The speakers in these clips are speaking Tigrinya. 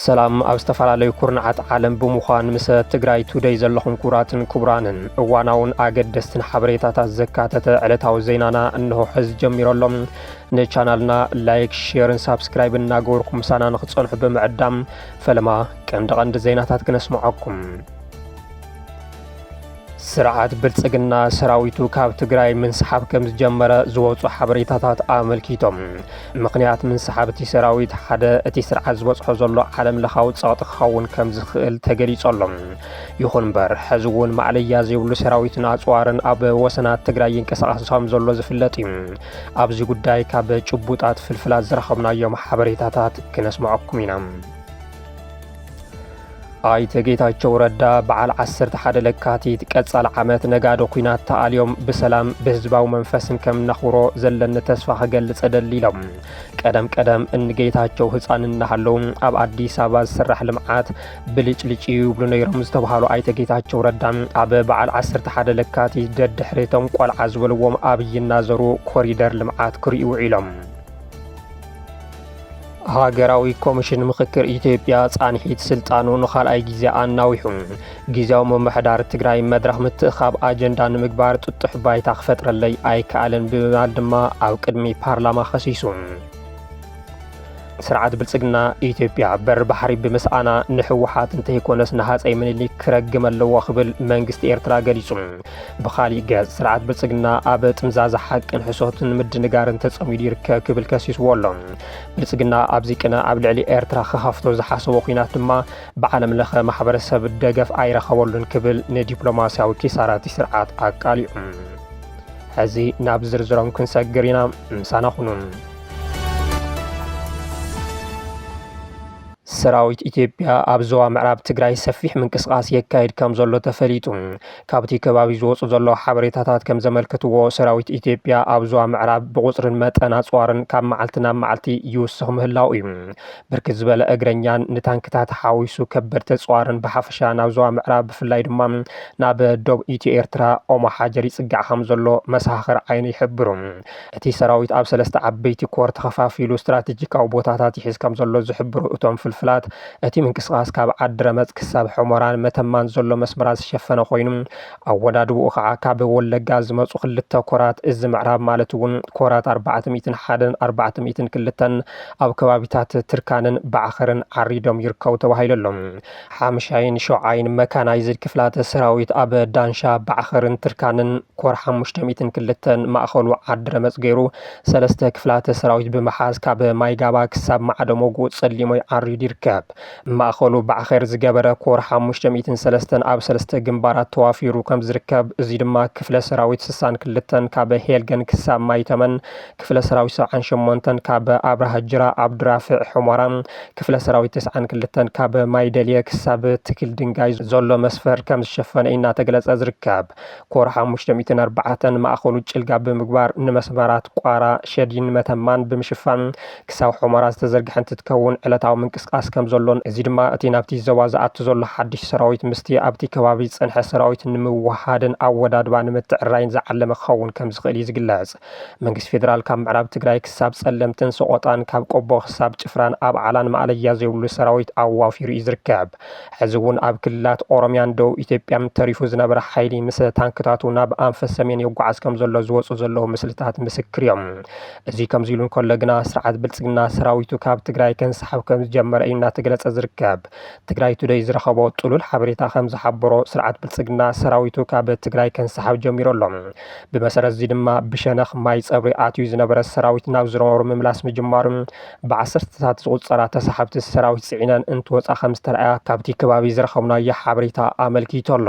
ሰላም ኣብ ዝተፈላለዩ ኩርናዓት ዓለም ብምዃን ምስ ትግራይ ቱደይ ዘለኹም ክቡራትን ክቡራንን እዋናውን ኣገደስትን ሓበሬታታት ዘካተተ ዕለታዊ ዜናና እንሆ ሕዚ ጀሚሮ ኣሎ። ንቻናልና ላይክ፣ ሼርን ሳብስክራይብን እናገበርኩም ምሳና ንክትጸንሑ ብምዕዳም ፈለማ ቀንዲ ቀንዲ ዜናታት ክነስምዓኩም። ስርዓት ብልጽግና ሰራዊቱ ካብ ትግራይ ምንስሓብ ከም ዝጀመረ ዝወፁ ሓበሬታታት ኣመልኪቶም። ምኽንያት ምንስሓብ እቲ ሰራዊት ሓደ እቲ ስርዓት ዝበፅሖ ዘሎ ዓለም ለኻዊ ፀቕጢ ክኸውን ከም ዝኽእል ተገሊጹ ኣሎ። ይኹን እምበር ሕዚ እውን ማእለያ ዘይብሉ ሰራዊትን ኣፅዋርን ኣብ ወሰናት ትግራይ ይንቀሳቐስ ከም ዘሎ ዝፍለጥ እዩ። ኣብዚ ጉዳይ ካብ ጭቡጣት ፍልፍላት ዝረኸብናዮም ሓበሬታታት ክነስምዐኩም ኢና። ኣይተ ጌታቸው ረዳ በዓል 11 ለካቲት ቀጻሊ ዓመት ነጋዶ ኩናት ተኣልዮም ብሰላም ብህዝባዊ መንፈስን ከም ነኽብሮ ዘለኒ ተስፋ ክገልጽ እደሊ ኢሎም። ቀደም ቀደም እንጌታቸው ህፃን እናሃለዉ ኣብ ኣዲስ ኣበባ ዝስራሕ ልምዓት ብልጭልጭ እዩ ይብሉ ነይሮም ዝተብሃሉ ኣይተ ጌታቸው ረዳ ኣብ በዓል 11 ለካቲት ደድሕሪ እቶም ቆልዓ ዝበልዎም ኣብይ እናዘሩ ኮሪደር ልምዓት ክርእዩ ውዒሎም። ሃገራዊ ኮሚሽን ምኽክር ኢትዮጵያ ፃንሒት ስልጣኑ ንካልኣይ ግዜ ኣናዊሑ ግዜያዊ ምምሕዳር ትግራይ መድረኽ ምትእኻብ ኣጀንዳ ንምግባር ጥጡሕ ባይታ ክፈጥረለይ ኣይከኣለን ብምባል ድማ ኣብ ቅድሚ ፓርላማ ከሲሱ። ስርዓት ብልፅግና ኢትዮጵያ በሪ ባሕሪ ብምስኣና ንህወሓት እንተይኮነስ ንሃፀይ ምኒልክ ክረግም ኣለዎ ክብል መንግስቲ ኤርትራ ገሊጹ። ብኻሊእ ገፅ ስርዓት ብልፅግና ኣብ ጥምዛዛ ሓቅን ሕሶትን ምድንጋርን ተፀሚዱ ይርከብ ክብል ከሲስዎ ኣሎ። ብልፅግና ኣብዚ ቅነ ኣብ ልዕሊ ኤርትራ ክኸፍቶ ዝሓሰቦ ኲናት ድማ ብዓለም ለኸ ማሕበረሰብ ደገፍ ኣይረኸበሉን ክብል ንዲፕሎማሲያዊ ኪሳራቲ ስርዓት ኣቃሊዑ። ሕዚ ናብ ዝርዝሮም ክንሰግር ኢና። ምሳና ኩኑ። ሰራዊት ኢትዮጵያ ኣብ ዞባ ምዕራብ ትግራይ ሰፊሕ ምንቅስቓስ የካይድ ከም ዘሎ ተፈሊጡ። ካብቲ ከባቢ ዝወፁ ዘለዉ ሓበሬታታት ከም ዘመልክትዎ ሰራዊት ኢትዮጵያ ኣብ ዞባ ምዕራብ ብቑፅርን መጠን ኣፅዋርን ካብ መዓልቲ ናብ መዓልቲ ይውስኽ ምህላው እዩ። ብርክት ዝበለ እግረኛን ንታንክታት ሓዊሱ ከበድቲ ኣፅዋርን ብሓፈሻ ናብ ዞባ ምዕራብ ብፍላይ ድማ ናብ ዶብ ኢትዮ ኤርትራ ኦሞ ሓጀር ይፅጋዕ ከምዘሎ መሰኻኽር ዓይኒ ይሕብሩ። እቲ ሰራዊት ኣብ ሰለስተ ዓበይቲ ኮር ተኸፋፊሉ ስትራቴጂካዊ ቦታታት ይሕዝ ከምዘሎ ዝሕብሩ እቶም ፍልፍላት እቲ ምንቅስቓስ ካብ ዓዲ ረመፅ ክሳብ ሑመራን መተማን ዘሎ መስመራት ዝሸፈነ ኮይኑ ኣወዳድብኡ ከዓ ካብ ወለጋ ዝመፁ ክልተ ኮራት እዚ ምዕራብ ማለት እውን ኮራት ኣርባዕተ ሚእትን ሓደን ኣርባዕተ ሚእትን ክልተን ኣብ ከባቢታት ትርካንን ባዕኸርን ዓሪዶም ይርከቡ ተባሂሉ ኣሎ። ሓምሻይን ሸውዓይን መካናይዝድ ክፍላተ ሰራዊት ኣብ ዳንሻ፣ ባዕኸርን ትርካንን ኮር ሓሙሽተ ሚእትን ክልተን ማእኸሉ ዓዲ ረመፅ ገይሩ ሰለስተ ክፍላተ ሰራዊት ብምሓዝ ካብ ማይጋባ ክሳብ ማዕደ ሞጉእ ፀሊሞይ ዓሪዱ ይርከብ። ማእኸሉ ባዕኸር ዝገበረ ኮር ሓሙሽተ ሚእትን ሰለስተን ኣብ ሰለስተ ግንባራት ተዋፊሩ ከም ዝርከብ እዙይ ድማ ክፍለ ሰራዊት ስሳን ክልተን ካብ ሄልገን ክሳብ ማይተመን፣ ክፍለ ሰራዊት ሰብዓን ሸሞንተን ካብ ኣብርሃ ጅራ ኣብ ድራፍዕ ሑመራ፣ ክፍለ ሰራዊት ተስዓን ክልተን ካብ ማይደልየ ክሳብ ትክል ድንጋይ ዘሎ መስፈር ከም ዝሸፈነ እዩ እናተገለፀ ዝርከብ። ኮር ሓሙሽተ ሚእትን ኣርባዕተን ማእኸሉ ጭልጋ ብምግባር ንመስመራት ቋራ፣ ሸዲን መተማን ብምሽፋን ክሳብ ሑመራ ዝተዘርግሐ እንትትከውን ዕለታዊ ምንቅስቓስ ከምዘሎን እዚ ድማ እቲ ናብቲ ዞባ ዝኣቱ ዘሎ ሓድሽ ሰራዊት ምስቲ ኣብቲ ከባቢ ዝጸንሐ ሰራዊት ንምውህሃድን ኣወዳድባ ንምትዕርራይን ዝዓለመ ክኸውን ከምዝኽእል እዩ ዝግለጽ። መንግስቲ ፌደራል ካብ ምዕራብ ትግራይ ክሳብ ጸለምትን ሰቖጣን ካብ ቆቦ ክሳብ ጭፍራን ኣብዓላን ማእለያ ዘይብሉ ሰራዊት ኣዋፊሩ እዩ ዝርከብ። ሕዚ'ውን ኣብ ክልላት ኦሮምያን ደቡብ ኢትዮጵያን ተሪፉ ዝነበረ ሓይሊ ምስ ታንክታቱ ናብ ኣንፈት ሰሜን ይጓዓዝ ከምዘሎ ዝወጹ ዘለዉ ምስልታት ምስክር እዮም። እዚ ከምዚሉ እንከሎ ግና ስርዓት ብልፅግና ሰራዊቱ ካብ ትግራይ ከንሳሕብ ከምዝጀመረ እዩ እናተገለፀ ዝርከብ። ትግራይ ቱደይ ዝረኸቦ ጥሉል ሓበሬታ ከምዝሓበሮ ስርዓት ብልፅግና ሰራዊቱ ካብ ትግራይ ከንሳሕብ ጀሚሩ ኣሎ። ብመሰረት እዚ ድማ ብሸነኽ ማይ ፀብሪ ኣትዩ ዝነበረ ሰራዊት ናብ ዝነበሮ ምምላስ ምጅማሩን ብዓሰርተታት ዝቑፀራ ተሳሓብቲ ሰራዊት ፅዒነን እንትወፃ ከምዝተርኣያ ካብቲ ከባቢ ዝረኸብናዮ ሓበሬታ ኣመልኪቱ ኣሎ።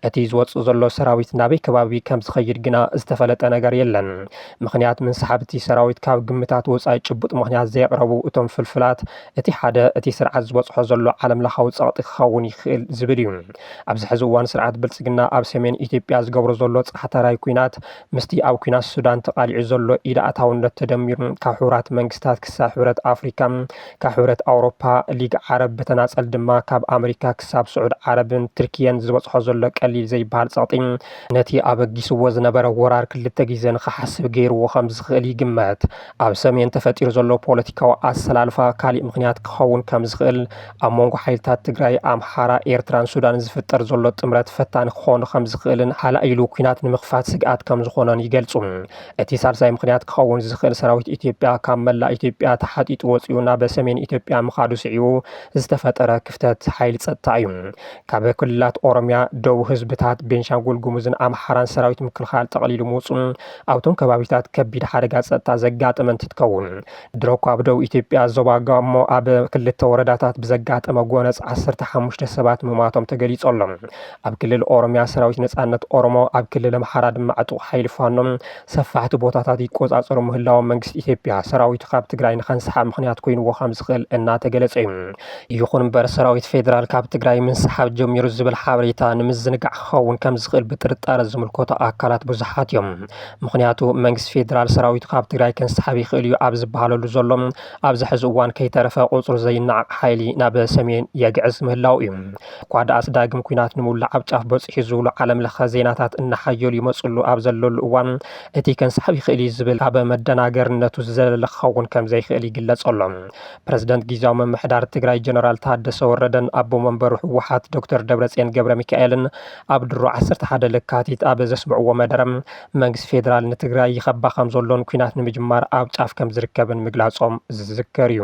እቲ ዝወፅእ ዘሎ ሰራዊት ናበይ ከባቢ ከምዝኸይድ ግና ዝተፈለጠ ነገር የለን። ምኽንያት ምንስሓብ'ቲ ሰራዊት ካብ ግምታት ወጻኢ ጭቡጥ ምኽንያት ዘየቕረቡ እቶም ፍልፍላት፣ እቲ ሓደ እቲ ስርዓት ዝበጽሖ ዘሎ ዓለምለኻዊ ጸቕጢ ክኸውን ይኽእል ዝብል እዩ። ኣብዚ ሕዚ እዋን ስርዓት ብልጽግና ኣብ ሰሜን ኢትዮጵያ ዝገብሮ ዘሎ ጻዕታራይ ኲናት ምስቲ ኣብ ኲናት ሱዳን ተቓሊዑ ዘሎ ኢድ ኣእታውነት ተደሚሩ ካብ ሕቡራት መንግስታት ክሳብ ሕብረት ኣፍሪካ ካብ ሕብረት ኣውሮፓ ሊግ ዓረብ ብተናጸል ድማ ካብ ኣመሪካ ክሳብ ስዑድ ዓረብን ትርክየን ዝበጽሖ ዘሎ ቀሊል ዘይበሃል ጸቕጢ ነቲ ኣበጊስዎ ዝነበረ ወራር ክልተ ግዜ ንኽሓስብ ገይርዎ ከም ዝኽእል ይግመት። ኣብ ሰሜን ተፈጢሩ ዘሎ ፖለቲካዊ ኣሰላልፋ ካሊእ ምኽንያት ክኸውን ከም ዝኽእል፣ ኣብ መንጎ ሓይልታት ትግራይ፣ ኣምሓራ፣ ኤርትራን ሱዳንን ዝፍጠር ዘሎ ጥምረት ፈታኒ ክኾን ከም ዝኽእልን ሃላይሉ ኲናት ንምኽፋት ስግኣት ከም ዝኾኖን ይገልጹ። እቲ ሳልሳይ ምኽንያት ክኸውን ዝኽእል ሰራዊት ኢትዮጵያ ካብ መላእ ኢትዮጵያ ተሓጢጡ ወጺኡ ናበ ሰሜን ኢትዮጵያ ምኻዱ ስዒቡ ዝተፈጠረ ክፍተት ሓይሊ ጸጥታ እዩ። ካብ ክልላት ኦሮምያ፣ ደቡብ ህዝብታት ቤንሻንጉል ጉሙዝን ኣምሓራን ሰራዊት ምክልኻል ጠቕሊሉ ምውፅኡ ኣብቶም ከባቢታት ከቢድ ሓደጋ ፀጥታ ዘጋጠመ እንትትከውን ድሮ እኳ ኣብ ደቡብ ኢትዮጵያ ዞባ ጋሞ ኣብ ክልተ ወረዳታት ብዘጋጠመ ጎነፅ ዓሰርተ ሓሙሽተ ሰባት ምሟቶም ተገሊፁ ኣሎ። ኣብ ክልል ኦሮምያ ሰራዊት ነፃነት ኦሮሞ ኣብ ክልል ኣምሓራ ድማ ዕጡቕ ሓይሊ ፋኖ ሰፋሕቲ ቦታታት ይቆፃፀሩ ምህላዎም መንግስቲ ኢትዮጵያ ሰራዊቱ ካብ ትግራይ ንኸንስሓብ ምኽንያት ኮይኑዎ ከም ዝኽእል እናተገለፀ እዩ። ይኹን እምበር ሰራዊት ፌዴራል ካብ ትግራይ ምንስሓብ ጀሚሩ ዝብል ሓበሬታ ንምዝንጋዕ ክኸውን ከም ዝኽእል ብጥርጣረ ዝምልከቶ ኣካላት ብዙሓት እዮም። ምኽንያቱ መንግስቲ ፌዴራል ሰራዊቱ ካብ ትግራይ ከንስሓብ ይኽእል እዩ ኣብ ዝበሃለሉ ዘሎ ኣብዚ ሕዚ እዋን ከይተረፈ ቁፅሩ ዘይነዓቕ ሓይሊ ናብ ሰሜን የግዕዝ ምህላዉ እዩ። እኳ ደኣስ ዳግም ኲናት ንምውላዕ ኣብ ጫፍ በፂሑ እዩ ዝብሉ ዓለም ለኸ ዜናታት እናሓየሉ ይመፅሉ ኣብ ዘለሉ እዋን እቲ ከንስሓብ ይኽእል እዩ ዝብል ካብ መደናገሪነቱ ዝዘለለ ክኸውን ከም ዘይኽእል ይግለፅ ኣሎ። ፕረዚደንት ጊዜያዊ ምምሕዳር ትግራይ ጀነራል ታደሰ ወረደን ኣቦ መንበሩ ህወሓት ዶክተር ደብረፅዮን ገብረ ሚካኤልን ኣብ ድሮ 11 ለካቲት ኣብ ዘስምዕዎ መደረ መንግስቲ ፌዴራል ንትግራይ ይኸባ ከም ዘሎን ኩናት ንምጅማር ኣብ ጫፍ ከም ዝርከብን ምግላፆም ዝዝከር እዩ።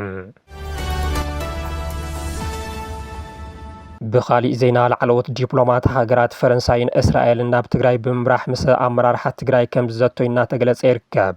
ብኻሊእ ዜና ላዕለዎት ዲፕሎማት ሃገራት ፈረንሳይን እስራኤልን ናብ ትግራይ ብምምራሕ ምስ ኣመራርሓ ትግራይ ከም ዝዘቶይ እናተገለፀ ይርከብ።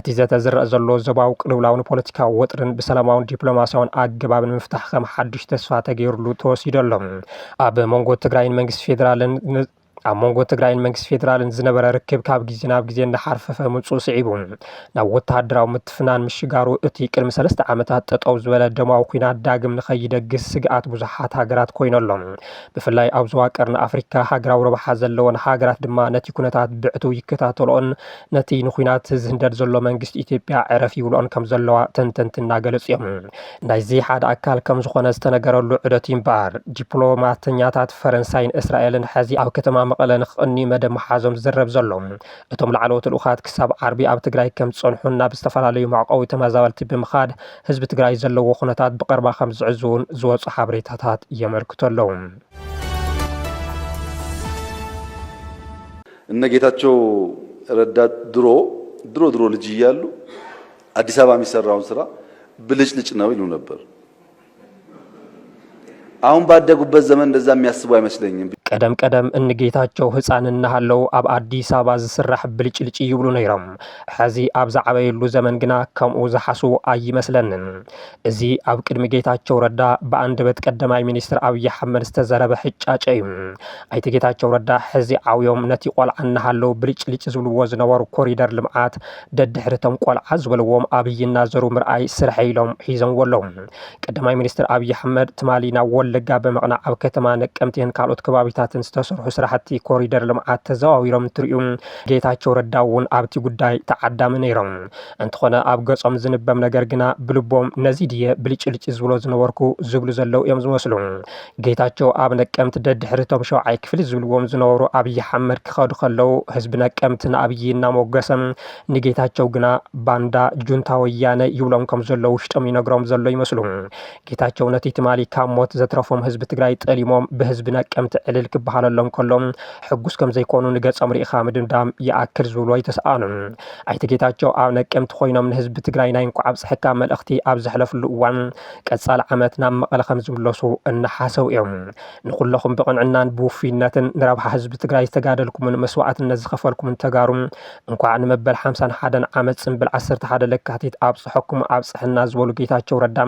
እቲ ዘተ ዝረኣ ዘሎ ዞባዊ ቅልውላውን ፖለቲካዊ ወጥርን ብሰላማውን ዲፕሎማስያውን ኣገባብ ንምፍታሕ ከም ሓዱሽ ተስፋ ተገይሩሉ ተወሲዱ ኣሎ። ኣብ መንጎ ትግራይን መንግስቲ ፌዴራልን ኣብ መንጎ ትግራይን መንግስቲ ፌዴራልን ዝነበረ ርክብ ካብ ግዜ ናብ ግዜ እናሓርፈፈ ምምፅኡ ስዒቡ ናብ ወተሃደራዊ ምትፍናን ምሽጋሩ እቲ ቅድሚ ሰለስተ ዓመታት ጠጠው ዝበለ ደማዊ ኩናት ዳግም ንኸይደግስ ስግኣት ብዙሓት ሃገራት ኮይኑ ኣሎ። ብፍላይ ኣብ ዞባ ቀርኒ ኣፍሪካ ሃገራዊ ረብሓ ዘለወን ሃገራት ድማ ነቲ ኩነታት ብዕቱብ ይከታተልኦን ነቲ ንኩናት ዝህንደድ ዘሎ መንግስቲ ኢትዮጵያ ዕረፍ ይብልኦን ከም ዘለዋ ተንተንቲ እናገለጹ እዮም። ናይዚ ሓደ ኣካል ከም ዝኾነ ዝተነገረሉ ዑደት እዩ እምበኣር፣ ዲፕሎማተኛታት ፈረንሳይን እስራኤልን ሕዚ ኣብ ከተማ መቐለ ንክቕንዩ መደብ ምሓዞም ዝዝረብ ዘሎ። እቶም ላዕለዎት ልኡኻት ክሳብ ዓርቢ ኣብ ትግራይ ከም ዝጸንሑን ናብ ዝተፈላለዩ መዕቆቢ ተመዛበልቲ ብምኻድ ህዝቢ ትግራይ ዘለዎ ኩነታት ብቐርባ ከም ዝዕዝቡን ዝወጹ ሓበሬታታት የመልክቱ ኣለዉ። እነ ጌታቸው ረዳ ድሮ ድሮ ድሮ ልጅ እያሉ አዲስ አበባ የሚሰራውን ስራ ብልጭልጭ ነው ይሉ ነበር። አሁን ባደጉበት ዘመን እንደዛ የሚያስቡ አይመስለኝም። ቀደም ቀደም እንጌታቸው ህፃን እናሃለው ኣብ ኣዲስ ኣበባ ዝስራሕ ብልጭልጭ ይብሉ ነይሮም። ሕዚ ኣብ ዝዓበየሉ ዘመን ግና ከምኡ ዝሓስቡ ኣይመስለንን። እዚ ኣብ ቅድሚ ጌታቸው ረዳ ብኣንደበት ቀዳማይ ሚኒስትር ኣብዪ ኣሕመድ ዝተዘረበ ሕጫጨ እዩ። ኣይተ ጌታቸው ረዳ ሕዚ ዓውዮም ነቲ ቆልዓ እናሃለው ብልጭልጭ ዝብልዎ ዝነበሩ ኮሪደር ልምዓት ደድሕሪቶም ቆልዓ ዝበልዎም ኣብዪ እናዘሩ ምርኣይ ስርሐ ኢሎም ሒዘምዎ ኣለው። ቀዳማይ ሚኒስትር ኣብዪ ኣሕመድ ትማሊ ናብ ወለጋ ብምቕናዕ ኣብ ከተማ ነቀምቴን ካልኦት ከባቢታትን ዝተሰርሑ ስራሕቲ ኮሪደር ልምዓት ተዘዋዊሮም እንትርእዩ ጌታቸው ረዳ እውን ኣብቲ ጉዳይ ተዓዳሚ ነይሮም። እንተኾነ ኣብ ገጾም ዝንበብ ነገር ግና ብልቦም ነዚ ድየ ብልጭልጭ ዝብሎ ዝነበርኩ ዝብሉ ዘለዉ እዮም ዝመስሉ። ጌታቸው ኣብ ነቀምት ደድሕሪ እቶም ሸውዓይ ክፍሊ ዝብልዎም ዝነበሩ ኣብይ ሓመድ ክኸዱ ከለዉ ህዝቢ ነቀምት ንኣብይ እናሞገሰ ንጌታቸው ግና ባንዳ ጁንታ ወያነ ይብሎም ከም ዘሎ ውሽጦም ይነግሮም ዘሎ ይመስሉ። ጌታቸው ነቲ ትማሊ ካብ ሞት ዘትረፎም ህዝቢ ትግራይ ጠሊሞም ብህዝቢ ነቀምቲ ዕልል ክበሃለሎም ከሎ ሕጉስ ከም ዘይኮኑ ንገጾም ርኢኻ ምድምዳም ይኣክል ዝብሉ ኣይተሰኣኑን። ኣይተ ጌታቸው ኣብ ነቀምቲ ኮይኖም ንህዝቢ ትግራይ ናይ እንኳዕ ኣብፀሐካ መልእኽቲ ኣብ ዘሕለፍሉ እዋን ቀፃሊ ዓመት ናብ መቐለ ከም ዝምለሱ እናሓሰቡ እዮም። ንኹለኹም ብቕንዕናን ብውፉይነትን ንረብሓ ህዝቢ ትግራይ ዝተጋደልኩምን መስዋእትነት ዝኸፈልኩምን ተጋሩ እንኳዕ ንመበል ሓምሳን ሓደን ዓመት ፅምብል ዓሰርተ ሓደ ለካቲት ኣብፀሐኩም ኣብፀሐና ዝበሉ ጌታቸው ረዳ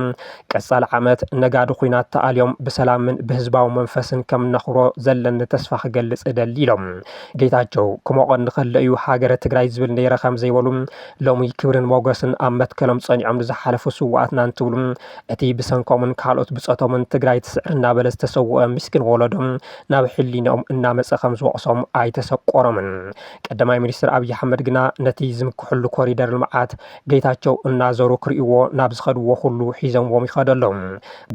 ቀፃሊ ዓመት ነጋዲ ኩናት ተኣልዮም ብሰላምን ብህዝባዊ መንፈስን ከም ነኽብሮ ዘለኒ ተስፋ ክገልፅ እደሊ ኢሎም። ጌታቸው ክሞቐኒ ከሎ እዩ ሃገረ ትግራይ ዝብል ነይረ ከም ዘይበሉ ሎሚ ክብርን ሞገስን ኣብ መትከሎም ጸኒዖም ንዝሓለፉ ስዋኣትና እንትብሉ እቲ ብሰንኮምን ካልኦት ብጾቶምን ትግራይ ትስዕር እናበለ ዝተሰወአ ምስኪን ወለዶም ናብ ሕሊንኦም እናመጸ ከም ዝወቕሶም ኣይተሰቆሮምን። ቀዳማይ ሚኒስትር ኣብዪ ኣሕመድ ግና ነቲ ዝምክሕሉ ኮሪደር ልምዓት ጌታቸው እናዘሩ ክርእይዎ ናብ ዝኸድዎ ኩሉ ሒዘምዎም ይኸዱ ኣለዉ።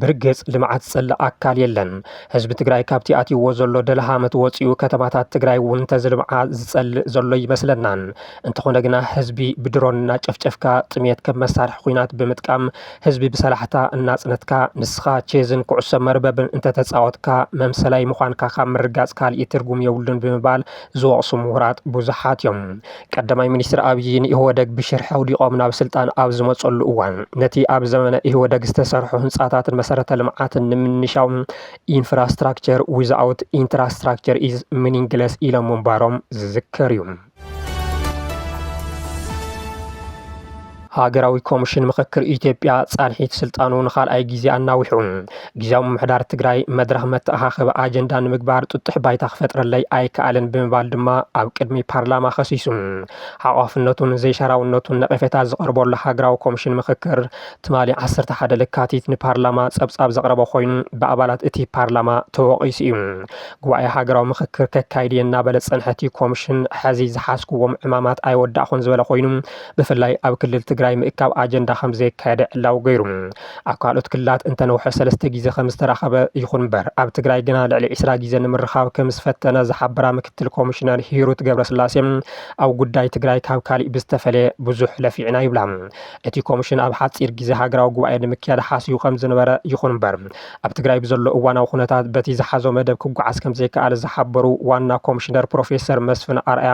ብርግፅ ልምዓት ዝፀልእ ኣካል የለን። ህዝቢ ትግራይ ካብቲ ኣትይዎ ዘሎ ደልሃመት ወፂኡ ከተማታት ትግራይ እውን እንተዝልምዓ ዝፀልእ ዘሎ ኣይመስለናን። እንተኾነ ግና ህዝቢ ብድሮን እናጨፍጨፍካ፣ ጥምየት ከም መሳርሒ ኹናት ብምጥቃም ህዝቢ ብሰላሕታ እናፅነትካ ንስኻ ቼዝን ኩዕሶ መርበብን እንተተፃወትካ መምሰላይ ምዃንካ ካብ ምርጋፅ ካሊእ ትርጉም የብሉን ብምባል ዝወቕሱ ምሁራት ብዙሓት እዮም። ቀዳማይ ሚኒስትር ኣብዪ ንኢህወደግ ብሽርሒ ኣውዲቖም ናብ ስልጣን ኣብ ዝመፀሉ እዋን ነቲ ኣብ ዘመነ ኢህወደግ ዝተሰርሑ ህንፃታትን መሰረተ ልምዓትን ንምንሻው ኢንፍራስትራክቸር ዊዝኣውት ኢንትራስትራክቸር ኢዝ ሚኒንግለስ ኢሎም ምንባሮም ዝዝከር እዩ። ሃገራዊ ኮሚሽን ምኽክር ኢትዮጵያ ፃንሒት ስልጣኑ ንካልኣይ ግዜ ኣናዊሑ። ግዝያዊ ምምሕዳር ትግራይ መድረኽ መተኣኻኸቢ ኣጀንዳ ንምግባር ጥጡሕ ባይታ ክፈጥረለይ ኣይከኣለን ብምባል ድማ ኣብ ቅድሚ ፓርላማ ከሲሱ። ሓቋፍነቱን ዘይሻራውነቱን ነቐፌታ ዝቐርበሉ ሃገራዊ ኮሚሽን ምኽክር ትማሊ ዓሰርተ ሓደ ለካቲት ንፓርላማ ፀብፃብ ዘቕረበ ኮይኑ ብኣባላት እቲ ፓርላማ ተወቒሱ እዩ። ጉባኤ ሃገራዊ ምኽክር ከካይድ እየ እናበለ ዝፀንሐ እቲ ኮሚሽን ሐዚ ዝሓዝኩዎም ዕማማት ኣይወዳእኹን ዝበለ ኮይኑ ብፍላይ ኣብ ክልል ትግራይ ምእካብ ኣጀንዳ ከምዘይካየደ ዕላዊ ገይሩ። ኣብ ካልኦት ክልላት እንተነውሐ ሰለስተ ግዜ ከምዝተራኸበ ይኹን እምበር ኣብ ትግራይ ግና ልዕሊ ዕስራ ግዜ ንምርኻብ ከምዝፈተነ ዝሓበራ ምክትል ኮሚሽነር ሂሩት ገብረስላሴ ኣብ ጉዳይ ትግራይ ካብ ካሊእ ብዝተፈለየ ብዙሕ ለፊዕና ይብላ። እቲ ኮሚሽን ኣብ ሓፂር ግዜ ሃገራዊ ጉባኤ ንምክያድ ሓሲቡ ከምዝነበረ ይኹን እምበር ኣብ ትግራይ ብዘሎ እዋናዊ ኩነታት በቲ ዝሓዞ መደብ ክጓዓዝ ከምዘይከኣለ ዝሓበሩ ዋና ኮሚሽነር ፕሮፌሰር መስፍን ኣርኣያ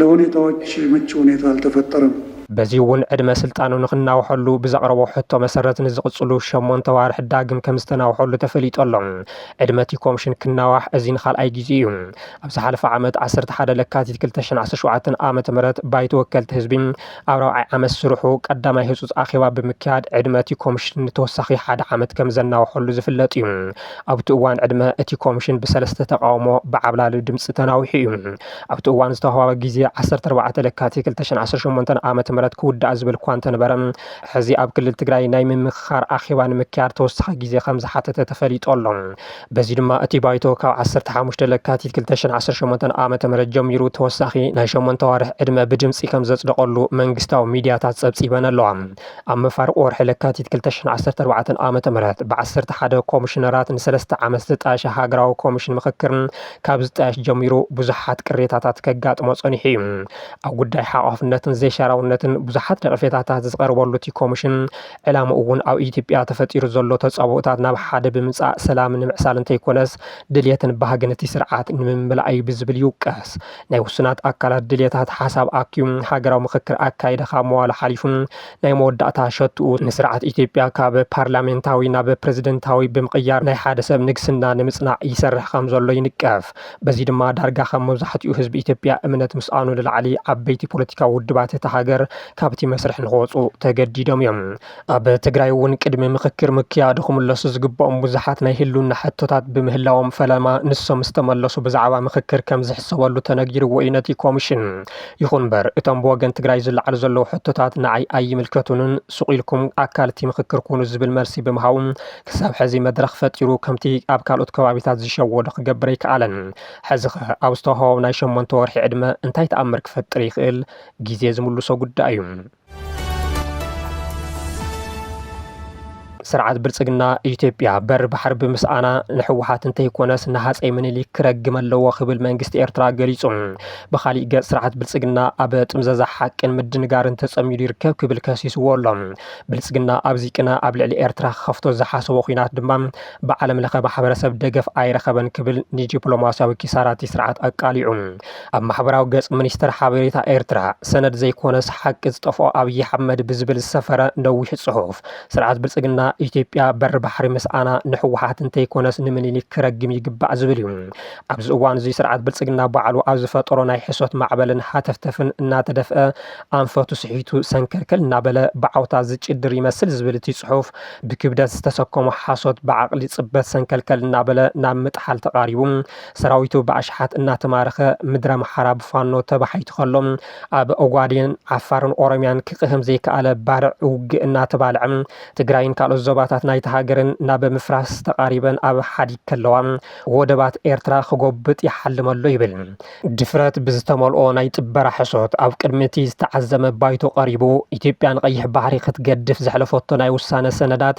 ለሁኔታዎች ምቹ ሁኔታ አልተፈጠረም። በዚ'ውን ዕድመ ስልጣኑ ንኽናውሐሉ ብዘቕረቦ ሕቶ መሰረት ንዝቕፅሉ ሸሞንተ ኣዋርሕ ዳግም ከምዝተናውሐሉ ተፈሊጡ ኣሎ። ዕድመ እቲ ኮምሽን ክናዋሕ እዚ ንካልኣይ ጊዚኡ እዩ። ኣብ ዝሓለፈ ዓመት ዓሰርተ ሓደ ለካቲት ክልተ ሽሕን ዓሰርተ ሸውዓተን ዓ.ም ባይቶ ወከልቲ ህዝቢ ኣብ ራብዓይ ዓመት ስርሑ ቀዳማይ ህፁፅ ኣኼባ ብምክያድ ዕድመ እቲ ኮምሽን ንተወሳኺ ሓደ ዓመት ከምዘናውሐሉ ዝፍለጥ እዩ። ኣብቲ እዋን ዕድመ እቲ ኮምሽን ብሰለስተ ተቓውሞ ብዓብላሊ ድምፂ ተናዊሑ እዩ። ኣብቲ እዋን ዝተዋህበ ግዜ ዓሰርተ ኣርባዕተ ለካቲት ክልተ ሽሕን ዓሰርተ ሸሞንተን ዓመተ ምህረት ክውዳእ ዝብል እኳ እንተነበረ፣ ሕዚ ኣብ ክልል ትግራይ ናይ ምምኽኻር ኣኼባ ንምክያድ ተወሳኺ ግዜ ከምዝሓተተ ተፈሊጡ ኣሎ። በዚ ድማ እቲ ባይቶ ካብ ዓሰርተ ሓሙሽተ ለካቲት ክልተ ሽሕን ዓሰርተ ሸሞንተን ዓመተ ምህረት ጀሚሩ ተወሳኺ ናይ ሸሞንተ ኣዋርሕ ዕድመ ብድምጺ ከምዘጽደቐሉ መንግስታዊ ሚድያታት ጸብጺበን ኣለዋ። ኣብ መፋርቕ ወርሒ ለካቲት ክልተ ሽሕን ዓሰርተ ኣርባዕተን ዓመተ ምህረት ብዓሰርተ ሓደ ኮሚሽነራት ንሰለስተ ዓመት ዝተጣየሸ ሃገራዊ ኮሚሽን ምኽክር ካብ ዝጣየሽ ጀሚሩ ብዙሓት ቅሬታታት ከጋጥሞ ጸኒሑ እዩ። ኣብ ጉዳይ ሓቋፍነትን ዘይሻራውነትን ብዙሓት ነቐፌታታት ዝቐርበሉ እቲ ኮሚሽን ዕላምኡ እውን ኣብ ኢትዮጵያ ተፈጢሩ ዘሎ ተጻብኦታት ናብ ሓደ ብምምጻእ ሰላም ንምዕሳል እንተይኮነስ ድልየትን ባህግን እቲ ስርዓት ንምምላእ እዩ ብዝብል ይውቀስ። ናይ ውሱናት ኣካላት ድልየታት ሓሳብ ኣኪቡ ሃገራዊ ምኽክር ኣካይደ ካብ መዋሉ ሓሊፉ ናይ መወዳእታ ሸትኡ ንስርዓት ኢትዮጵያ ካብ ፓርላሜንታዊ ናብ ፕረዚደንታዊ ብምቕያር ናይ ሓደ ሰብ ንግስና ንምጽናዕ ይሰርሕ ከም ዘሎ ይንቀፍ። በዚ ድማ ዳርጋ ከም መብዛሕትኡ ህዝቢ ኢትዮጵያ እምነት ምስኣኑ ንላዕሊ ዓበይቲ ፖለቲካዊ ውድባት እታ ሃገር ካብቲ መስርሕ ንክወጽኡ ተገዲዶም እዮም። ኣብ ትግራይ እውን ቅድሚ ምኽክር ምክያዱ ክምለሱ ዝግብኦም ብዙሓት ናይ ህልውና ሕቶታት ብምህላዎም ፈለማ ንሶም ዝተመለሱ ብዛዕባ ምኽክር ከም ዝሕሰበሉ ተነጊርዎ እዩ ነቲ ኮሚሽን። ይኹን እምበር እቶም ብወገን ትግራይ ዝለዓሉ ዘለዉ ሕቶታት ንዓይ ኣይምልከቱንን፣ ሱቕ ኢልኩም ኣካል እቲ ምኽክር ኩኑ ዝብል መልሲ ብምሃቡ ክሳብ ሕዚ መድረኽ ፈጢሩ ከምቲ ኣብ ካልኦት ከባቢታት ዝሸወዶ ክገብር ኣይከኣለን። ሕዚኸ ኣብ ዝተውሃቦም ናይ ሸሞንተ ወርሒ ዕድመ እንታይ ተኣምር ክፈጥር ይኽእል ግዜ ዝምልሶ ጉዳይ እዩ። ስርዓት ብልፅግና ኢትዮጵያ በሪ ባሕሪ ብምስኣና ንሕወሓት እንተይኮነስ ንሃፀይ ምኒልክ ክረግም ኣለዎ ክብል መንግስቲ ኤርትራ ገሊጹ። ብኻሊእ ገጽ ስርዓት ብልፅግና ኣብ ጥምዘዛ ሓቅን ምድንጋርን ተጸሚዱ ይርከብ ክብል ከሲስዎ ኣሎ። ብልፅግና ኣብዚ ቅነ ኣብ ልዕሊ ኤርትራ ክኸፍቶ ዝሓሰቦ ኩናት ድማ ብዓለም ለኸ ማሕበረሰብ ደገፍ ኣይረኸበን ክብል ንዲፕሎማስያዊ ኪሳራቲ ስርዓት ኣቃሊዑ። ኣብ ማሕበራዊ ገጽ ሚኒስተር ሓበሬታ ኤርትራ፣ ሰነድ ዘይኮነስ ሓቂ ዝጠፍኦ ኣብይ ኣሕመድ ብዝብል ዝሰፈረ ነዊሕ ጽሑፍ፣ ስርዓት ብልጽግና፣ ኢትዮጵያ በሪ ባሕሪ ምስኣና ንህወሓት እንተይኮነስ ንምኒሊክ ክረግም ይግባእ ዝብል እዩ። ኣብዚ እዋን'ዚ ስርዓት ብልጽግና ባዕሉ ኣብ ዝፈጠሮ ናይ ሕሶት ማዕበልን ሃተፍተፍን እናተደፍአ፣ ኣንፈቱ ስሒቱ ሰንከልከል እናበለ ብዓውታ ዝጭድር ይመስል ዝብል እቲ ጽሑፍ፣ ብክብደት ዝተሰከሞ ሓሶት ብዓቕሊ ጽበት ሰንከልከል እናበለ ናብ ምጥሓል ተቓሪቡ፣ ሰራዊቱ ብኣሽሓት እናተማረኸ ምድረኣምሓራ ብፋኖ ተባሒቱ ከሎ፣ ኣብ ኦጓዴን፣ ዓፋርን ኦሮምያን ክቅህም ዘይከኣለ ባርዕ ውግእ እናተባልዐ፣ ትግራይን ካልኦት ዞባታት ናይታ ሃገርን ናብ ምፍራስ ተቃሪበን ኣብ ሓዲግ ከለዋ፣ ወደባት ኤርትራ ክጎብጥ ይሓልም ኣሎ ይብል። ድፍረት ብዝተመልኦ ናይ ጥበራ ሕሶት ኣብ ቅድሚ እቲ ዝተዓዘመ ባይቶ ቀሪቡ፣ ኢትዮጵያ ንቀይሕ ባሕሪ ክትገድፍ ዘሕለፈቶ ናይ ውሳነ ሰነዳት፣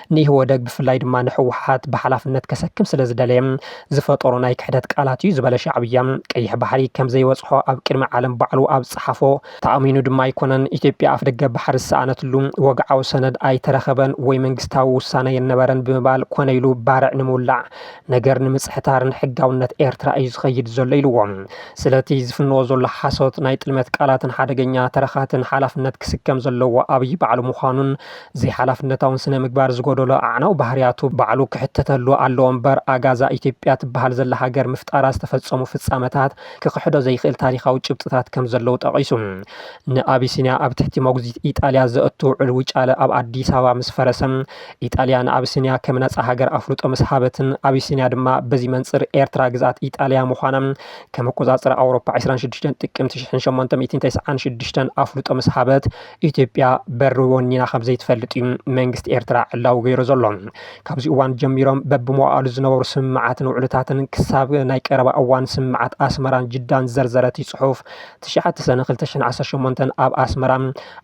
ንኢህወደግ ብፍላይ ድማ ንሕወሓት ብሓላፍነት ከሰክም ስለዝደለየ ዝፈጠሮ ናይ ክሕደት ቃላት እዩ ዝበለ ሻዕብያ፣ ቀይሕ ባሕሪ ከምዘይበፅሖ ኣብ ቅድሚ ዓለም ባዕሉ ኣብ ዝፀሓፎ ተኣሚኑ ድማ ኣይኮነን። ኢትዮጵያ ኣፍደገ ባሕሪ ዝሰኣነትሉ ወግዓዊ ሰነድ ኣይተረኸበን ወይ መንግስታዊ ውሳነ የነበረን ብምባል ኮነ ኢሉ ባርዕ ንምውላዕ፣ ነገር ንምፅሕታርን ሕጋውነት ኤርትራ እዩ ዝኸይድ ዘሎ ኢልዎ። ስለቲ ዝፍንዎ ዘሎ ሓሶት፣ ናይ ጥልመት ቃላትን ሓደገኛ ተረኻትን ሓላፍነት ክስከም ዘለዎ ኣብይ ባዕሉ ምዃኑን፣ ዘይሓላፍነታውን ስነ ምግባር ዝጎደሎ ኣዕናዊ ባህርያቱ ባዕሉ ክሕተተሉ ኣለዎ እምበር ኣጋ እዛ ኢትዮጵያ ትበሃል ዘላ ሃገር ምፍጣራ ዝተፈፀሙ ፍፃመታት ክኽሕዶ ዘይኽእል ታሪኻዊ ጭብጥታት ከምዘለዉ ጠቒሱ ንኣቢሲንያ ኣብ ትሕቲ መጉዚት ኢጣልያ ዘእቱ ውዕል ውጫለ ኣብ ኣዲስ ኣበባ ምስ ፈረሰ ኢጣልያ ንኣቢሲንያ ከም ነፃ ሃገር ኣፍልጦ ምስ ሃበትን ኣቢሲንያ ድማ በዚ መንፅር ኤርትራ ግዝኣት ኢጣልያ ምዃና ከም ኣቆፃፅራ ኣውሮፓ 26 ጥቅምቲ 1896 ኣፍልጦ ምስ ሃበት ኢትዮጵያ በሪ ወኒና ከምዘይትፈልጥ እዩ መንግስቲ ኤርትራ ዕላዊ ገይሩ ዘሎ። ካብዚ እዋን ጀሚሮም በብመዋእሉ ዝነበሩ ስምምዓትን ውዕልታትን ክሳብ ናይ ቀረባ እዋን ስምምዓት ኣስመራን ጅዳን ዝዘርዘረ እቲ ጽሑፍ ትሽዓተ ሰነ ክልተ ሽሕን ዓሰርተ ሸሞንተን ኣብ ኣስመራ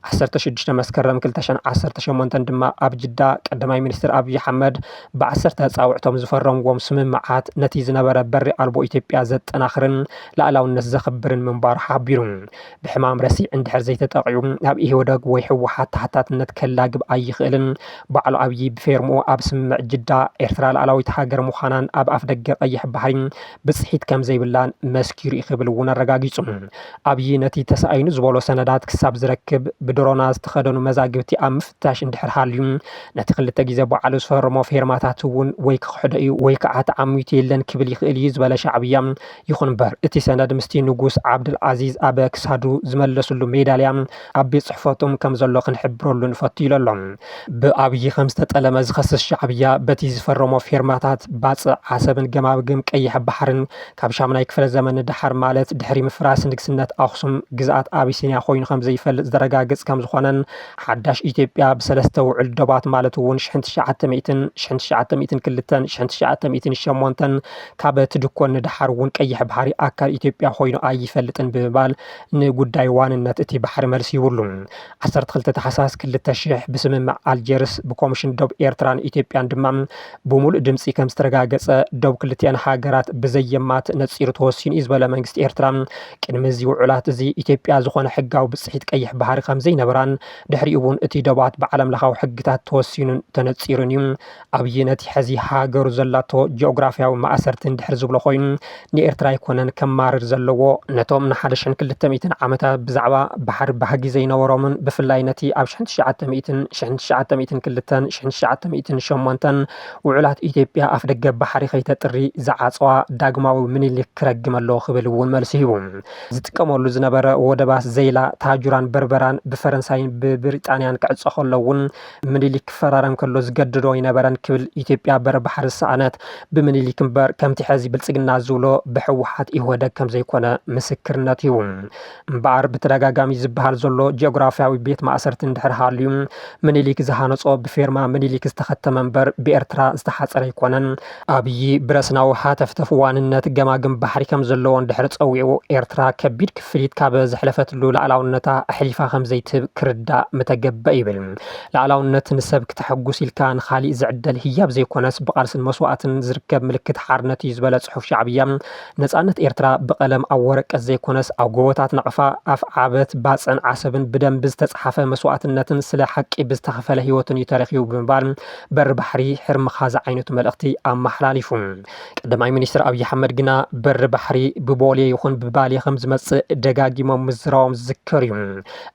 ዓሰርተ ሽዱሽተ መስከረም ክልተ ሽሕን ዓሰርተ ሸሞንተን ድማ ኣብ ጅዳ ቀዳማይ ሚኒስትር ኣብዪ ኣሕመድ ብዓሰርተ ኣጻብዕቶም ዝፈረምዎም ስምምዓት ነቲ ዝነበረ በሪ ኣልቦ ኢትዮጵያ ዘጠናኽርን ልኣላውነት ዘኽብርን ምንባሩ ሓቢሩ። ብሕማም ረሲዕ እንድሕር ዘይተጠቒዑ ኣብ ኢህወደግ ወይ ህወሓት ተሓታትነት ከላግብ ኣይኽእልን። ባዕሉ ኣብዪ ብፌርምኡ ኣብ ስምምዕ ጅዳ ኤርትራ ልኣላዊት ሃገር ምዃናን ኣብ ኣፍደገ ቀይሕ ባሕሪ ብፅሒት ከምዘይብላን መስኪሩ ዩ ክብል እውን ኣረጋጊፁ። ኣብዪ ነቲ ተሳኢኑ ዝበሎ ሰነዳት ክሳብ ዝረክብ ብድሮና ዝተኸደኑ መዛግብቲ ኣብ ምፍታሽ እንድሕር ሃልዩ ነቲ ክልተ ግዜ ባዕሉ ዝፈረሞ ፌርማታት እውን ወይ ክኽሕዶ ዩ ወይ ከዓ ተዓሚቱ የለን ክብል ይኽእል ዩ ዝበለ ሻዕብያ ይኹን እምበር እቲ ሰነድ ምስቲ ንጉስ ዓብደልኣዚዝ ኣብ ክሳዱ ዝመለስሉ ሜዳልያ ኣብ ቤት ጽሕፈቶም ከም ዘሎ ክንሕብረሉ ንፈቱ ኢሎ'ሎ። ብኣብዪ ከም ዝተጠለመ ዝኸስስ ሻዕብያ በቲ ዝፈረሞ ፌርማታት ባጽዕ ዓሰብን ገማግም ቀይሕ ባሕርን ካብ ሻምናይ ክፍለ ዘመን ንደሓር ማለት ድሕሪ ምፍራስ ንግስነት ኣኽሱም ግዝኣት ኣቢሲንያ ኮይኑ ከም ዘይፈልጥ ዘረጋግጽ ከም ዝኾነን ሓዳሽ ኢትዮጵያ ብሰለስተ ውዑል ዶባት ማለት'ውን ሽሕን ትሽዓተ ሚእትን፣ ሽሕን ትሽዓተ ሚእትን ክልተን፣ ሽሕን ትሽዓተ ሚእትን ሸሞንተን ካብ ትድኮን ንደሓር እውን ቀይሕ ባሕሪ ኣካል ኢትዮጵያ ኮይኑ ኣይፈልጥን ብምባል ንጉዳይ ዋንነት እቲ ባሕሪ መልሲ ይብሉ። ዓሰርተ ክልተ ታሕሳስ ክልተ ሽሕ ብስምምዕ ኣልጀርስ ብኮምሽን ዶብ ኤርትራን ኢትዮጵያን ድማ ብሙሉእ ድምፂ ከምዝተረጋገፀ ዶብ ክልቲኣን ሃገራት ብዘየማትእ ነፂሩ ተወሲኑ እዩ ዝበለ መንግስቲ ኤርትራ ቅድሚ እዚ ውዑላት እዚ ኢትዮጵያ ዝኾነ ሕጋዊ ብፅሒት ቀይሕ ባሕሪ ከምዘይነበራን ድሕሪኡ እውን እቲ ዶባት ብዓለምለኻዊ ሕግታት ተወሲኑን ተነፂሩን እዩ ኣብዪ ነቲ ሐዚ ሃገሩ ዘላቶ ጂኦግራፍያዊ ማእሰርትን ድሕር ዝብሎ ኮይኑ ንኤርትራ ኣይኮነን ከማርር ዘለዎ ነቶም ንሓደ ሽሕን ክልተ ሚእትን ዓመታት ብዛዕባ ባሕሪ ባህጊ ዘይነበሮምን ብፍላይ ነቲ ኣብ ሽሕን ትሽዓተ ሚእትን ሽሕን ትሽዓተ ሚእትን ክልተን ሽሕን ትሽዓተ ሚእትን ሸሞንተን ውዑላት ኢትዮጵያ ኣፍደገ ባሕሪ ከይተጥሪ ዝዓጸዋ ዳግማዊ ምኒልክ ክረግም ኣለዎ ክብል እውን መልሲ ሂቡ ዝጥቀመሉ ዝነበረ ወደባት ዘይላ ታጁራን በርበራን ብፈረንሳይን ብብሪጣንያን ክዕጸ ከሎ እውን ምኒሊክ ክፈራረም ከሎ ዝገድዶ ኣይነበረን ክብል ኢትዮጵያ በሪ ባሕሪ ዝሰኣነት ብምኒሊክ እምበር ከምቲ ሐዚ ብልፅግና ዝብሎ ብሕወሓት ኢህወደግ ከምዘይኮነ ምስክርነት እዩ። እምበኣር ብተደጋጋሚ ዝበሃል ዘሎ ጂኦግራፍያዊ ቤት ማእሰርቲ እንድሕር ሃልዩ ምኒሊክ ዝሃነፆ ብፌርማ ምኒሊክ ዝተኸተመ እምበር ብኤርትራ ዝተሓፀረ ኣይኮነን። ኣብዪ ብረስናዊ ሃተፍተፍ ዋንነት ገማግም ባሕሪ ከም ዘለዎ እንድሕር ጸዊዑ፣ ኤርትራ ከቢድ ክፍሊት ካብ ዘሕለፈትሉ ላእላውነታ ኣሕሊፋ ከም ዘይትህብ ክርዳእ ምተገበ ይብል። ላእላውነት ንሰብ ክተሐጉስ ኢልካ ንኻሊእ ዝዕደል ህያብ ዘይኮነስ ብቓልስን መስዋእትን ዝርከብ ምልክት ሓርነት እዩ ዝበለ ጽሑፍ ሻዕብያ፣ ነጻነት ኤርትራ ብቐለም ኣብ ወረቀት ዘይኮነስ ኣብ ጎቦታት ናቕፋ፣ ኣፍዓበት፣ ባጽዕን ዓሰብን ብደም ብዝተጽሓፈ መስዋእትነትን ስለ ሓቂ ብዝተኸፈለ ህይወትን እዩ ተረኺቡ ብምባል በሪ ባሕሪ ሕርምኻ ዝዓይነቱ መልእኽቲ ኣመሓላሊፉ። ቀዳማይ ሚኒስትር ኣብዪ ኣሕመድ ግና በሪ ባሕሪ ብቦሌ ይኹን ብባሌ ከም ዝመፅእ ደጋጊሞም ምዝራቦም ዝዝከር እዩ።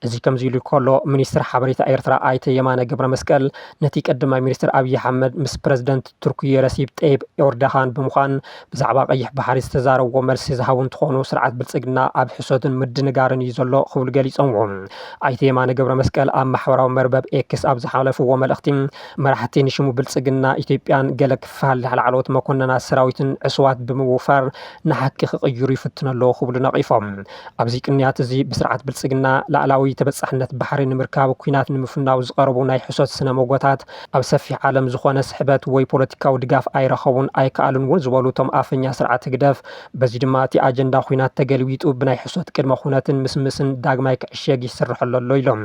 እዚ ከምዚ ኢሉ ከሎ ሚኒስትር ሓበሬታ ኤርትራ ኣይተ የማነ ገብረመስቀል ነቲ ቀዳማይ ሚኒስትር ኣብዪ ኣሕመድ ምስ ፕረዚደንት ቱርኪየ ረሲፕ ጠይብ ኤርዶሃን ብምዃን ብዛዕባ ቀይሕ ባሕሪ ዝተዛረብዎ መልሲ ዝሃቡ እንትኾኑ፣ ስርዓት ብልፅግና ኣብ ሕሶትን ምድንጋርን እዩ ዘሎ ክብሉ ገሊፆምዎ። ኣይተ የማነ ገብረመስቀል ኣብ ማሕበራዊ መርበብ ኤክስ ኣብ ዝሓለፍዎ መልእኽቲ፣ መራሕቲ ንሽሙ ብልፅግና ኢትዮጵያን ገለ ክፋል ላዕለዎት መኮነናት ሰራዊትን ዕሱባት ብምውፋር ንሓቂ ክቕይሩ ይፍትኑ ኣለዉ ክብሉ ነቒፎም። ኣብዚ ቅንያት እዚ ብስርዓት ብልፅግና ላእላዊ ተበፃሕነት ባሕሪ ንምርካብ ኲናት ንምፍናው ዝቐረቡ ናይ ሕሶት ስነ ሞጎታት ኣብ ሰፊሕ ዓለም ዝኾነ ስሕበት ወይ ፖለቲካዊ ድጋፍ ኣይረኸቡን ኣይከኣሉን እውን ዝበሉ እቶም ኣፈኛ ስርዓት ህግደፍ፣ በዚ ድማ እቲ ኣጀንዳ ኹናት ተገልቢጡ ብናይ ሕሶት ቅድመ ኩነትን ምስምስን ዳግማይ ክዕሸግ ይስረሐሉ ኣሎ ኢሎም።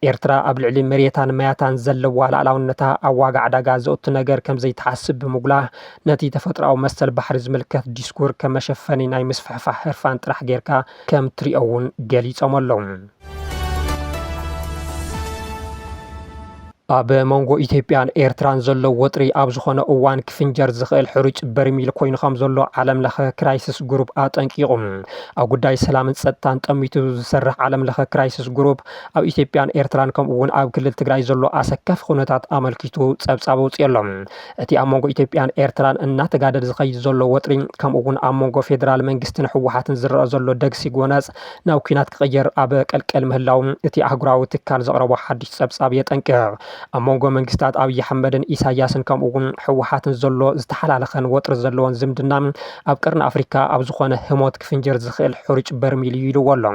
ኤርትራ ኣብ ልዕሊ መሬታን ማያታን ዘለዋ ልኣላውነታ ኣብ ዋጋ ዕዳጋ ዘእቱ ነገር ከምዘይትሓስብ ብምጉላህ ነቲ ተፈጥሮኣዊ መሰል ባሕሪ ዝምልከት ዲስኩር ከም መሸፈኒ ናይ ምስፍሕፋሕ ህርፋን ጥራሕ ጌርካ ከም ትሪኦ እውን ገሊፆም ኣለው። ኣብ መንጎ ኢትዮጵያን ኤርትራን ዘሎ ወጥሪ ኣብ ዝኾነ እዋን ክፍንጀር ዝኽእል ሕሩጭ በርሚል ኮይኑ ከም ዘሎ ዓለም ለኸ ክራይስስ ግሩፕ ኣጠንቂቑ። ኣብ ጉዳይ ሰላምን ጸጥታን ጠሚቱ ዝሰርሕ ዓለም ለኸ ክራይስስ ግሩፕ ኣብ ኢትዮጵያን ኤርትራን ከምኡ እውን ኣብ ክልል ትግራይ ዘሎ ኣሰካፊ ኩነታት ኣመልኪቱ ጸብጻብ ኣውጺኡ ኣሎ። እቲ ኣብ መንጎ ኢትዮጵያን ኤርትራን እናተጋደድ ዝኸይድ ዘሎ ወጥሪ ከምኡ እውን ኣብ መንጎ ፌደራል መንግስትን ህወሓትን ዝረኣ ዘሎ ደግሲ ጎነጽ ናብ ኲናት ክቕየር ኣብ ቀልቀል ምህላዉ እቲ ኣህጉራዊ ትካል ዘቕረቦ ሓድሽ ጸብጻብ የጠንቅቕ። ኣብ መንጎ መንግስታት ኣብይ ኣሕመድን ኢሳይያስን ከምኡ'ውን ህወሓትን ዘሎ ዝተሓላለኸን ወጥሪ ዘለዎን ዝምድና ኣብ ቀርኒ ኣፍሪካ ኣብ ዝኾነ ህሞት ክፍንጀር ዝኽእል ሕሩጭ በርሚል'ዩ ኢልዎ'ሎ።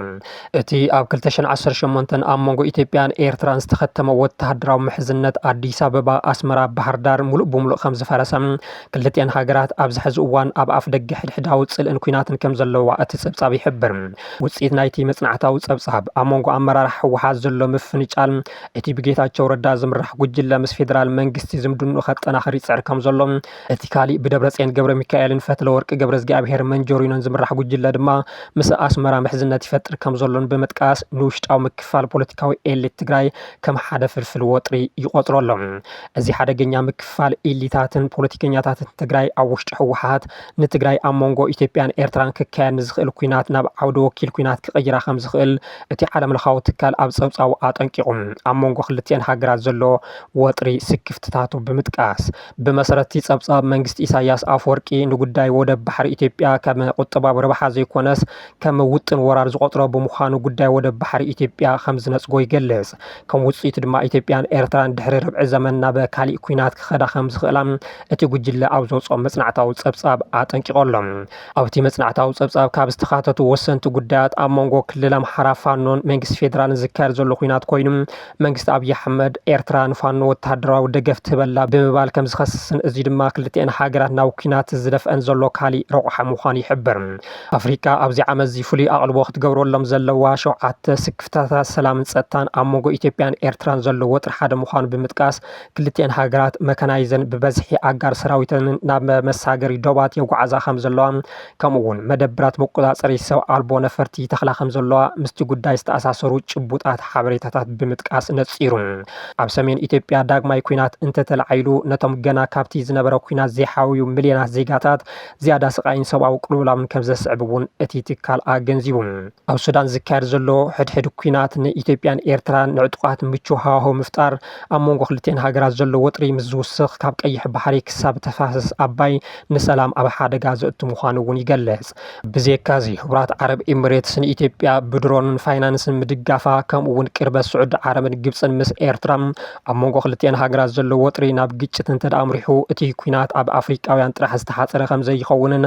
እቲ ኣብ ክልተ ሽሕን ዓሰርተ ሸሞንተን ኣብ መንጎ ኢትዮጵያን ኤርትራን ዝተኸተመ ወተሃደራዊ ምሕዝነት ኣዲስ ኣበባ፣ ኣስመራ፣ ባህርዳር ምሉእ ብምሉእ ከምዝፈረሰ፣ ክልቲኣን ሃገራት ኣብዚ ሕዚ እዋን ኣብ ኣፍደገ ሕድሕዳዊ ጽልእን ኲናትን ከም ዘለዋ እቲ ጸብጻብ ይሕብር። ውጽኢት ናይቲ መጽናዕታዊ ጸብጻብ፣ ኣብ መንጎ ኣመራርሓ ህወሓት ዘሎ ምፍንጫል፣ እቲ ብጌታቸው ረዳ ዝምራሕ ጉጅለ ምስ ፌደራል መንግስቲ ዝምድንኡ ከጠናኽር ይጽዕር ከም ዘሎ፣ እቲ ካሊእ ብደብረጽዮን ገብረሚካኤልን ፈትለወርቅ ገብረዝግኣብሄር መንጆሪኖን ዝምራሕ ጉጅለ ድማ ምስ ኣስመራ ምሕዝነት ይፈጥር ከም ዘሎን ብምጥቃስ ንውሽጣዊ ምክፍፋል ፖለቲካዊ ኤሊት ትግራይ ከም ሓደ ፍልፍል ወጥሪ ይቖጽሮ ኣሎ። እዚ ሓደገኛ ምክፍፋል ኢሊታትን ፖለቲከኛታትን ትግራይ ኣብ ውሽጢ ህወሓት ንትግራይ ኣብ መንጎ ኢትዮጵያን ኤርትራን ክካየድ ንዝኽእል ኲናት ናብ ዓውደ ወኪል ኲናት ክቕይራ ከም ዝኽእል እቲ ዓለምለኻዊ ትካል ኣብ ጸብጻቡ ኣጠንቂቑ። ኣብ መንጎ ክልቲኤን ሃገራት ዘሎ ወጥሪ ስክፍትታቱ ብምጥቃስ፣ ብመሰረት እቲ ጸብጻብ መንግስቲ ኢሳይያስ ኣፍወርቂ ንጉዳይ ወደብ ባሕሪ ኢትዮጵያ ከም ቁጠባዊ ረብሓ ዘይኮነስ ከም ውጥን ወራር ዝቖጽሮ ብምዃኑ ጉዳይ ወደብ ባሕሪ ኢትዮጵያ ከም ዝነጽጎ ይገልጽ። ከም ውጽኢቱ ድማ ኢትዮጵያን ኤርትራን ድሕሪ ርብዒ ዘመን ናብ ካሊእ ኲናት ክኸዳ ከም ዝኽእላ እቲ ጉጅለ ኣብ ዘውጽኦ መጽናዕታዊ ጸብጻብ ኣጠንቂቑ ኣሎ። ኣብቲ መጽናዕታዊ ጸብጻብ ካብ ዝተኻተቱ ወሰንቲ ጉዳያት ኣብ መንጎ ክልል ኣምሓራ ፋኖን መንግስቲ ፌደራልን ዝካየድ ዘሎ ኲናት ኮይኑ መንግስቲ ኣብይ ኣሕመድ ኤርትራ ንፋኖ ወተሃደራዊ ደገፍ ትህብ ኣላ ብምባል ከም ዝኸስስን እዚ ድማ ክልቲኤን ሃገራት ናብ ኲናት ዝደፍኣን ዘሎ ካሊእ ረቑሓ ምዃኑ ይሕብር። ኣፍሪቃ ኣብዚ ዓመት'ዚ ፍሉይ ኣቕልቦ ክትገብረሎም ዘለዋ ሸውዓተ ስክፍታታት ሰላምን ጸጥታን ኣብ መንጎ ኢትዮጵያን ኤርትራን ዘሎ ወጥሪ ሓደ ምዃኑ ብምጥቃስ ክልቲኤን ሃገራት መካናይዘን ብበዝሒ ኣጋር ሰራዊተንን ናብ መሳገሪ ዶባት የጓዕዛ ከም ዘለዋ ከምኡ እውን መደብራት መቆፃፀሪ ሰብ ኣልቦ ነፈርቲ ይተኽላ ከምዘለዋ ምስቲ ጉዳይ ዝተኣሳሰሩ ጭቡጣት ሓበሬታታት ብምጥቃስ ነፂሩ። ኣብ ሰሜን ኢትዮጵያ ዳግማይ ኲናት እንተተላዒሉ ነቶም ገና ካብቲ ዝነበረ ኲናት ዘይሓወዩ ሚልዮናት ዜጋታት ዝያዳ ስቓይን ሰብኣዊ ቅልውላውን ከምዘስዕብ እውን እቲ ትካል ኣገንዚቡ። ኣብ ሱዳን ዝካየድ ዘሎ ሕድሕድ ኲናት ንኢትዮጵያን ኤርትራን ንዕጡቓት ምቹው ሃዋህው ምፍጣር፣ ኣብ መንጎ ክልቲኤን ሃገራት ዘሎ ወጥሪ ምስ ዝውስኽ ካብ ቀይሕ ባሕሪ ክሳብ ተፋሰስ ኣባይ ንሰላም ኣብ ሓደጋ ዘእቱ ምዃኑ እውን ይገልጽ። ብዜካዚ ሕቡራት ዓረብ ኢምሬትስ ንኢትዮጵያ ብድሮንን ፋይናንስን ምድጋፋ ከምኡ እውን ቅርበት ስዑዲ ዓረብን ግብጽን ምስ ኤርትራ ኣብ መንጎ ክልቲኤን ሃገራት ዘሎ ወጥሪ ናብ ግጭት እንተድኣ ኣምሪሑ እቲ ኲናት ኣብ ኣፍሪቃውያን ጥራሕ ዝተሓጸረ ከምዘይኸውንን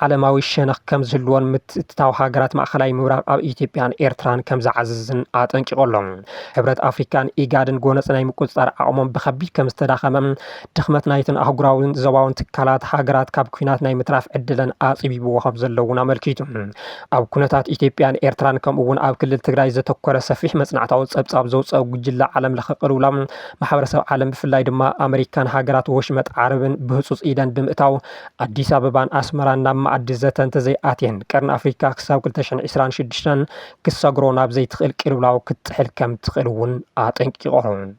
ዓለማዊ ሸነኽ ከምዝህልዎን ምትእትታው ሃገራት ማእኸላይ ምብራቕ ኣብ ኢትዮጵያን ኤርትራን ከምዝዓዝዝን ኣጠንቂቑ ኣሎ። ሕብረት ኣፍሪካን ኢጋድን ጎነጽ ናይ ምቁጽጻር ዓቕሞም ብከቢድ ከምዝተዳኸመ ድኽመት ናይተን ኣህጉራዊን ዞባውን ትካላት ሃገራት ካብ ኩናት ናይ ምትራፍ ዕድለን ኣጽቢብዎ ከም ዘሎ እውን ኣመልኪቱ። ኣብ ኩነታት ኢትዮጵያን ኤርትራን ከምኡ'ውን ኣብ ክልል ትግራይ ዘተኮረ ሰፊሕ መጽናዕታዊ ጸብጻብ ዘውጸኦ ጉጅለ ዓለም ለኸ ቅልውላው ማሕበረሰብ ዓለም ብፍላይ ድማ ኣመሪካን ሃገራት ወሽመጥ ዓረብን ብህጹጽ ኢደን ብምእታው ኣዲስ ኣበባን ኣስመራን ናብ መኣዲ ዘተ እንተዘይኣትየን ቀርኒ ኣፍሪካ ክሳብ 2026 ክሰግሮ ናብ ዘይትኽእል ቅልውላው ክትጥሕል ከም ትኽእል እውን ኣጠንቂቖም።